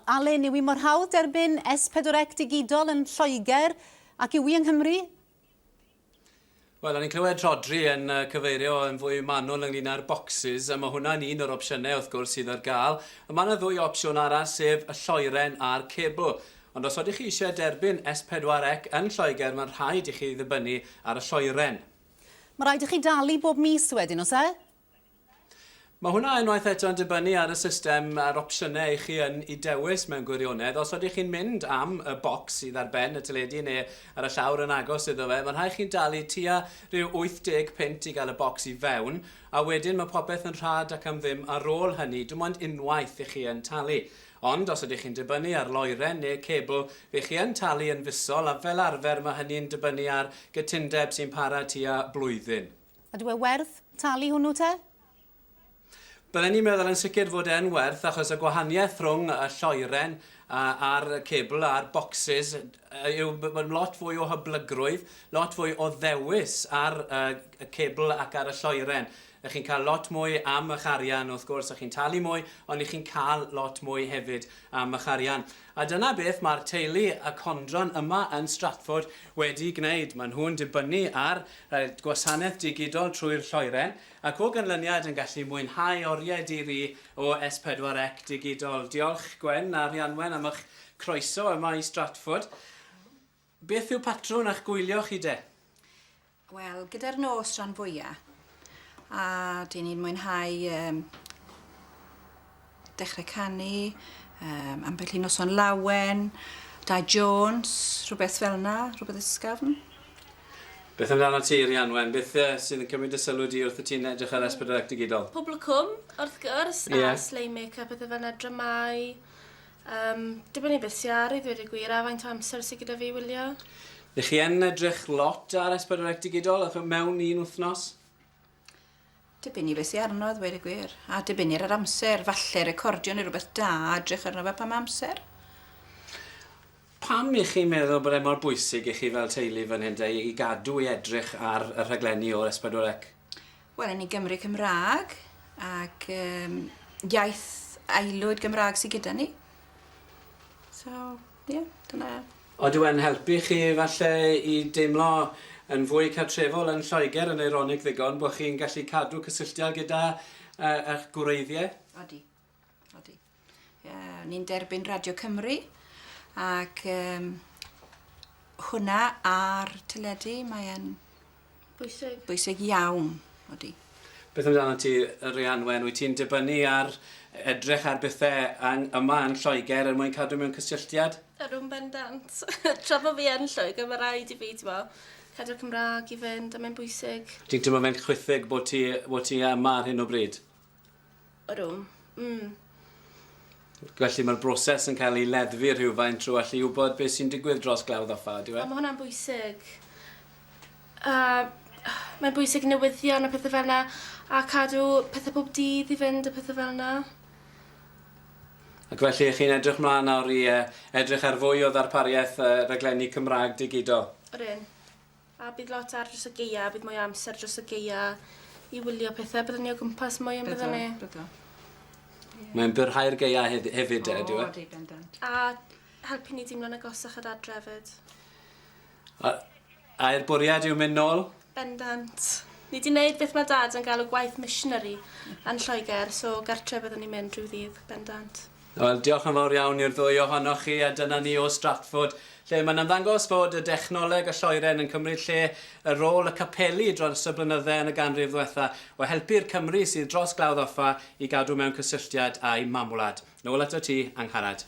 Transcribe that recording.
Allen, yw hi mor hawdd derbyn S pedwar Ec digidol yn Lloegr ac yw hi yng Nghymru? Wel, o'n i'n clywed Rhodri yn uh, cyfeirio yn fwy manwl ynglyn â'r bocsys, a mae hwnna'n un o'r opsiynau wrth gwrs sydd ar gael. Mae yna ddwy opsiwn arall, sef y lloeren a'r cebl. Ond os oeddech chi eisiau derbyn S4 Ec yn Lloegr, mae'n rhaid i chi ddibynnu ar y lloeren. Mae rhaid i chi dalu bob mis wedyn, os e? Mae hwnna unwaith eto yn dibynnu ar y system a'r opsiynau i chi yn i dewis mewn gwirionedd. Os ydych chi'n mynd am y bocs sydd ar ben y teledu neu ar y llawr yn agos iddo fe, mae'n rhaid chi'n dalu tua rhyw 80 punt i gael y bocs i fewn, a wedyn mae popeth yn rhad ac am ddim ar ôl hynny. Dim ond unwaith i chi yn talu. Ond os ydych chi'n dibynnu ar loeren neu cebl, fe chi yn talu yn fisol, a fel arfer mae hynny'n dibynnu ar gytundeb sy'n para tua blwyddyn. Ydyw e werth talu hwnnw te? Bydden i'n meddwl yn sicr fod e'n werth achos y gwahaniaeth rhwng y lloeren a'r cebl a'r bocsys yw bod lot fwy o hyblygrwydd, lot fwy o ddewis ar y cebl ac ar y lloeren. Ych chi'n cael lot mwy am eich arian wrth gwrs, ych chi'n talu mwy ond ych chi'n cael lot mwy hefyd am eich arian. A dyna beth mae'r teulu y Condron yma yn Stratford wedi gwneud, maen nhw'n dibynnu ar y gwasanaeth digidol trwy'r lloeren, ac o ganlyniad yn gallu mwynhau oriau di-ri o S4C digidol. Diolch Gwen a Rhianwen am eich croeso yma i Stratford. Beth yw patrwn a'ch gwylio chi de? Wel, gyda'r nos rhan fwya, a dyn ni'n mwynhau um, dechrau canu, um, ambell i noson lawen, da Jones, rhywbeth fel na, rhywbeth ysgafn. Beth amdano ti, Rhianwen? Beth uh, sydd yn cymryd y sylw di wrth y ti'n edrych ar S4C Digidol? Pobl y cwm, wrth gwrs, yeah. a slei make-up, pethau fel yna, dramau, Yym, dibynnu beth sy ar i ddweud y gwir a faint o amser sy gyda fi i wylio. Ych chi yn edrych lot ar S4C Digidol a ch'mod mewn un wythnos? Dibynnu beth sy arno a ddweud y gwir. A dibynnu ar yr amser, falle recordio neu rhywbeth da a edrych arno fe pan ma' amser. Pam y'ch chi'n meddwl bod e mor bwysig i chi fel teulu fan hyn te i gadw i edrych ar y rhaglenni o'r S4C? Wel, yn ei Gymru Cymraeg ac um, iaith aelwyd Gymraeg sydd gyda ni. So, ie, yeah, dyna... Oedw e'n helpu chi falle i deimlo yn fwy cartrefol yn Lloegr yn eironig ddigon bod chi'n gallu cadw cysylltiad gyda uh, eich gwreiddiau? Odi. Odi. Uh, ni'n derbyn Radio Cymru ac um, hwnna ar teledu mae'n bwysig. bwysig iawn. Odi. Beth amdano ti, Rhianwen? Wyt ti'n dibynnu ar edrych ar bethau ang, yma yn Lloegr er mwyn cadw mewn cysylltiad? Ydw'n bendant. Tra bod fi yn Lloegr, mae rhaid i fi, ti'n mo, cadw'r Cymraeg i fynd, a mae'n bwysig. Ti'n teimlo fe'n chwithig bod ti, bod ti yma ar hyn o bryd? Ydw. Mm. Felly mae'r broses yn cael ei leddfu rhywfaint trwy allu wybod beth sy'n digwydd dros glawdd ddoffa, ydyw e? O, mae hwnna'n bwysig. A mae'n bwysig newyddion a pethau fel yna, a cadw pethau pob dydd i fynd a pethau fel yna. Ac felly, chi'n edrych mlaen nawr i uh, edrych ar fwy o ddarpariaeth uh, raglenni Cymraeg digidol? Ryn. A bydd lot ar dros y geia, a bydd mwy o amser dros y geia i wylio pethau. Byddwn ni o gwmpas mwy yn byddwn ni. Byddo, byddo. Mae'n byrhau'r geia hef hefyd, oh, ydyw e? O, di bendant. A helpu ni dimlo'n agosach at adre hefyd. A, a er bwriad yw mynd nôl? Bendant. Ni wedi gwneud beth mae dad yn galw gwaith missionary yn Lloegr, so gartre byddwn ni'n mynd rhyw ddydd, bendant. Wel, diolch yn fawr iawn i'r ddwy ohonoch chi, a dyna ni o Stratford, lle mae'n ymddangos fod y dechnoleg a lloeren yn cymryd lle y rôl y capeli dros y blynydde yn y ganrif ddwetha, o helpu'r Cymry sydd dros glawdd offa i gadw mewn cysylltiad â'u mamwlad. Nôl atat ti, Angharad.